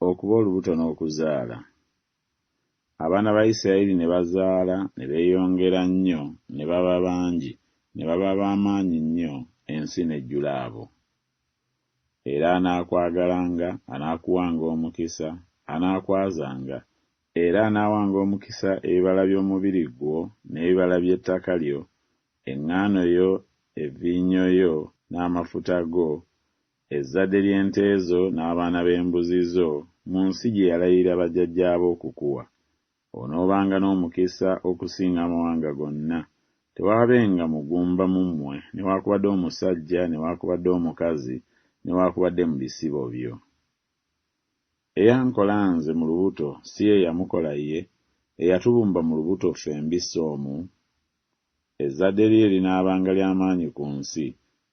okuba olubuto n'okuzaala. Abaana ba Isirayiri ne bazaala ne beeyongera nnyo ne baba bangi ne baba ba maanyi nnyo ensi n'ejjula abo. Era anaakwagalanga anaakuwanga omukisa, anaakwazanga, era anaawanga omukisa ebibala by'omubiri gwo n'ebibala by'ettaka lyo, eŋŋaano yo, evviinyo yo, n'amafuta go, Ezzadde ly'ente zo n'abaana b'embuzi zo, mu nsi gye yalayirira bajjajjaabo okukuwa. Onoobanga n'omukisa okusinga amawanga gonna. Tewaabenga mugumba mu mmwe, newaakubadde omusajja, newaakubadde omukazi, newaakubadde mu bisibo byo. Eyankola Nze mu lubuto, si ye yamukola ye, eyatubumba mu lubuto ffembi si omu? Ezzadde lye linaabanga lya maanyi ku nsi,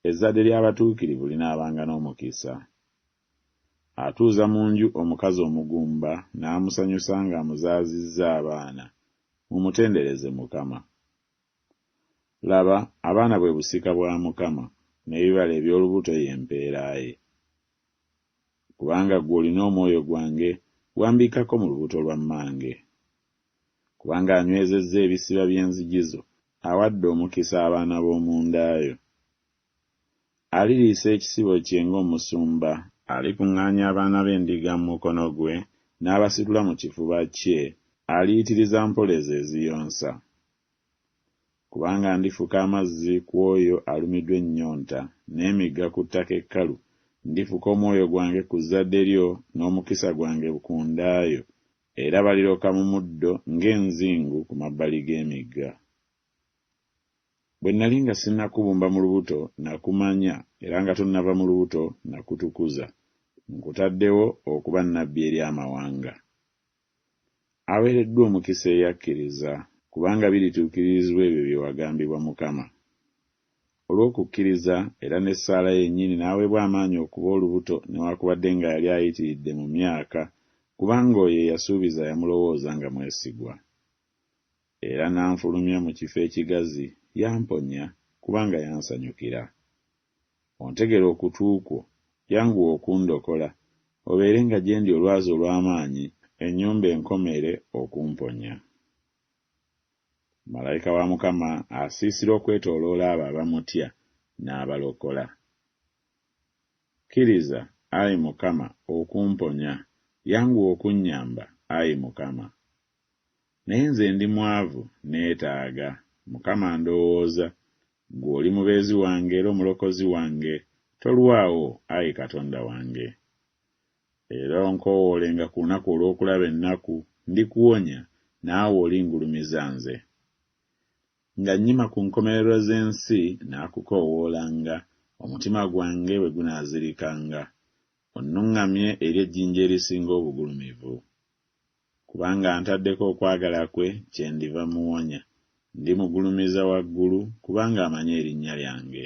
ezzadde ly'abatuukirivu linaabanga n'omukisa. Atuuza mu nju omukazi omugumba n'amusanyusa ng'amuzaazizza abaana, mumutendereze Mukama. Laba, abaana bwe busika bwa Mukama, n'ebibala eby'olubuto ye mpeera ye. Kubanga ggwe olina omwoyo gwange, wambikkako mu lubuto lwa mmange. kubanga anywezezza ebisiba by'enzigi zo, awadde omukisa abaana b'omu nda yo. Aliriisa ekisibo kye ng'omusumba. Alikuŋŋaanya abaana b'endiga mu mukono gwe, n'abasitula mu kifuba kye, aliyitiriza mpola ezo eziyonsa. Kubanga ndifuka amazzi ku oyo alumidwa ennyonta, n'emigga ku ttaka ekkalu, ndifuka omwoyo gwange ku zzadde lyo, n'omukisa gwange ku nda yo, Era baliroka mu muddo ng'enzingu ku mabbali g'emigga. Bwe nnali nga sinnakubumba mu lubuto, nakumanya, era nga tonnava mu lubuto, nakutukuza. Nkutaddewo okuba nnabbi eri amawanga. Aweereddwa omukisa eyakkiriza, kubanga birituukiririzbwa ebyo bye wagambibwa Mukama. olw'okukkiriza era n'essaala yennyini n'aweebwa amaanyi okuba olubuto newakubadde nga yali ayitiridde mu myaka kubanga oyo eyasuubiza yamulowooza nga mwesigwa. Era n'anfulumya mu kifo ekigazi, yamponya, kubanga yansanyukira. Ontegera okutu kwo, yanguwa okundokola, obeerenga gye ndi olwazi olw'amaanyi, ennyumba enkomeere okumponya. Malayika wa Mukama asiisira okwetooloola abo abamutya n'abalokola. Kkiriza, ayi Mukama, okumponya, yanguwa okunnyamba, ayi Mukama. Naye nze ndi mwavu, nneetaaga, Mukama, ndowooza, Ggwe oli Mubeezi wange era Omulokozi wange, tolwawo, ayi Katonda wange. Era onkoowoolenga ku lunaku olw'okulaba ennaku, ndikuwonya, naawe olingulumiza Nze. Nga nnyima ku nkomerero z'ensi, nnaakukoowoolanga, omutima gwange bwe gunaazirikanga, onnuŋŋamye eri ejjinja erisinga obugulumivu. Kubanga antaddeko okwagala kwe, kyendiva mmuwonya, ndimugulumiza waggulu, kubanga amanyi erinnya lyange.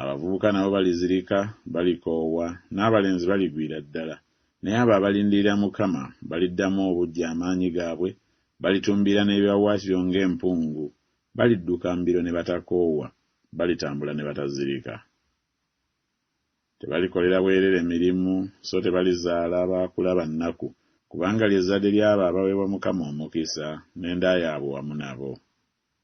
Abavubuka nabo balizirika, balikoowa, n'abalenzi baligwira ddala, naye abo abalindirira Mukama baliddamu obuggya amaanyi gaabwe, balitumbiira n'ebiwaawaatiro ng'empungu, balidduka mbiro ne batakoowa, balitambula ne batazirika. Tebalikolera bwereere mirimu, so tebalizaala baakula ba nnaku, kubanga lye zzadde ly'abo abaweebwa Mukama omukisa, n'enda yaabwe wamu nabo.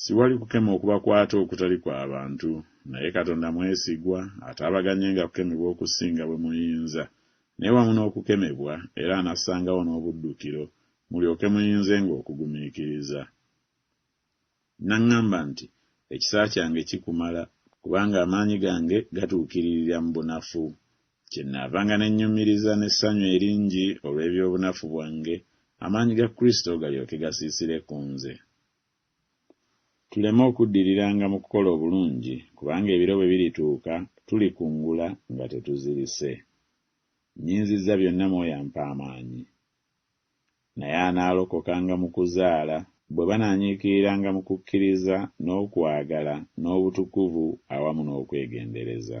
Siwali kukema okubakwata okutali kwa bantu, naye Katonda mwesigwa, ataabaganyenga kukemebwa okusinga bwe muyinza, naye wamu n'okukemebwa era anassangawo n'obuddukiro, mulyoke muyinzenga okugumiikiriza. N'aŋŋamba nti, Ekisa kyange kikumala, kubanga amaanyi gange gatuukiririra mu bunafu. Kyennaavanga ne nnyumiriza n'essanyu eringi olw'eby'obunafu bwange, amaanyi ga Kristo galyoke gasiisire ku nze, tuleme okuddiriranga mu kukola obulungi, kubanga ebiro bwe birituuka tulikungula nga tetuzirise. Nnyinzizza byonna mu oyo ampa amaanyi. naye anaalokokanga mu kuzaala, bwe banaanyiikiriranga mu kukkiriza, n'okwagala, n'obutukuvu, awamu n'okwegendereza.